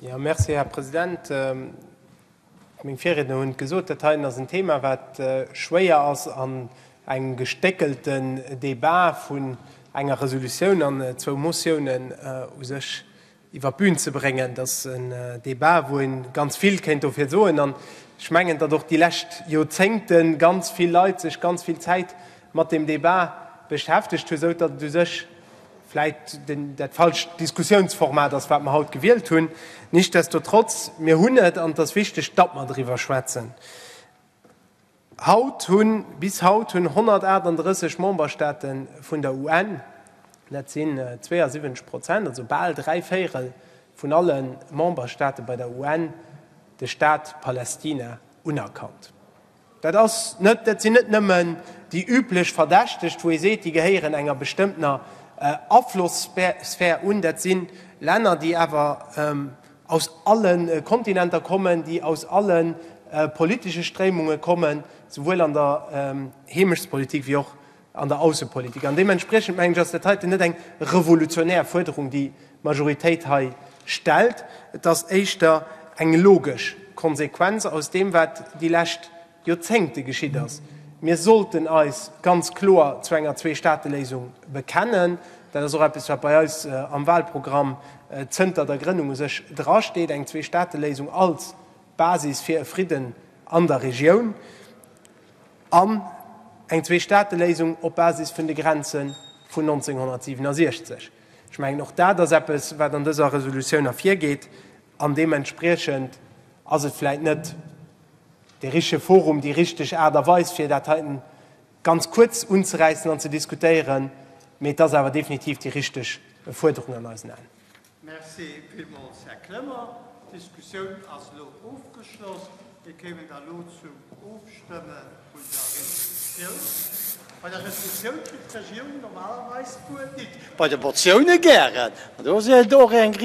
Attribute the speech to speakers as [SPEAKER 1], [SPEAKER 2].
[SPEAKER 1] Ja, merci, Här President. Meng Virriedner hunn et gesot, Dat heien ass en Thema, wat schwéier ass an engem gestéckelten Débat vun enger Resolutioun an zwou Motiounen u sech iwwer d'Bün ze bréngen. Et ass en Débat, wou ee ganz vill kéint dofir soen. An ech mengen, datt och déi lescht Joerzéngte ganz vill Leit sech ganz vill Zäit mat deem Débat beschäftegt hunn, esou datt et u sech, vläicht dat falscht Diskussiounsformat ass, wat mer haut gewielt hunn. Nichtsdestotrotz, mir hunn et, an et ass wichteg, datt mer driwwer schwätzen. Haut hunn, bis haut hunn 138 Memberstaate vun der UN, dat sinn 72 Prozent, also bal dräi Véierel vun alle Memberstaate bei der UN, de Staat Palästina unerkannt. Dat ass net, dat sinn net nëmmen déi üblech Verdächtegt, wou ee seet, déi gehéieren enger bestëmmtener Aflossphär un. Dat si Länner, déi awer aus alle Kontinenter kommen, déi aus alle politesche Stréimunge kommen, souwuel an der Heemechtspolitik wéi och an der Aussepolitik. An deementspriechend, mengen ech, ass dat heiten net eng revolutionär Fuerderung, déi d'Majoritéit hei stellt. Et ass éischter eng logesch Konsequenz aus deem, wat déi lescht Joerzéngte geschitt ass. Mir sollten eis ganz kloer zu enger Zweestaateléisung bekennen. Dat ass och eppes, wat bei eis am Wahlprogramm zënter der Grënnung u sech drasteet, eng Zweestaateléisung als Basis fir e Fridden an der Regioun. an eng Zweestaateléisung op Basis vun de Grenze vun 1967. Ech mengen, och dat ass eppes, wat an dëser Resolutioun ervirgeet, an deementspriechend ass et vläicht net dee richtege Forum, déi richteg Aart a Weis, fir dat heiten ganz kuerz unzeräissen an ze diskutéieren, mee et ass awer definitiv déi richteg Fuerderung an eisen Aen. Merci villmools, Här Clement. D'Diskussioun ass elo ofgeschloss. Mir kéimen da elo zum Ofstëmme vun der Resolutioun. Bei der Resolutioun kritt d'Regierung normalerweis d'Wuert nit, bei de Motioune gären.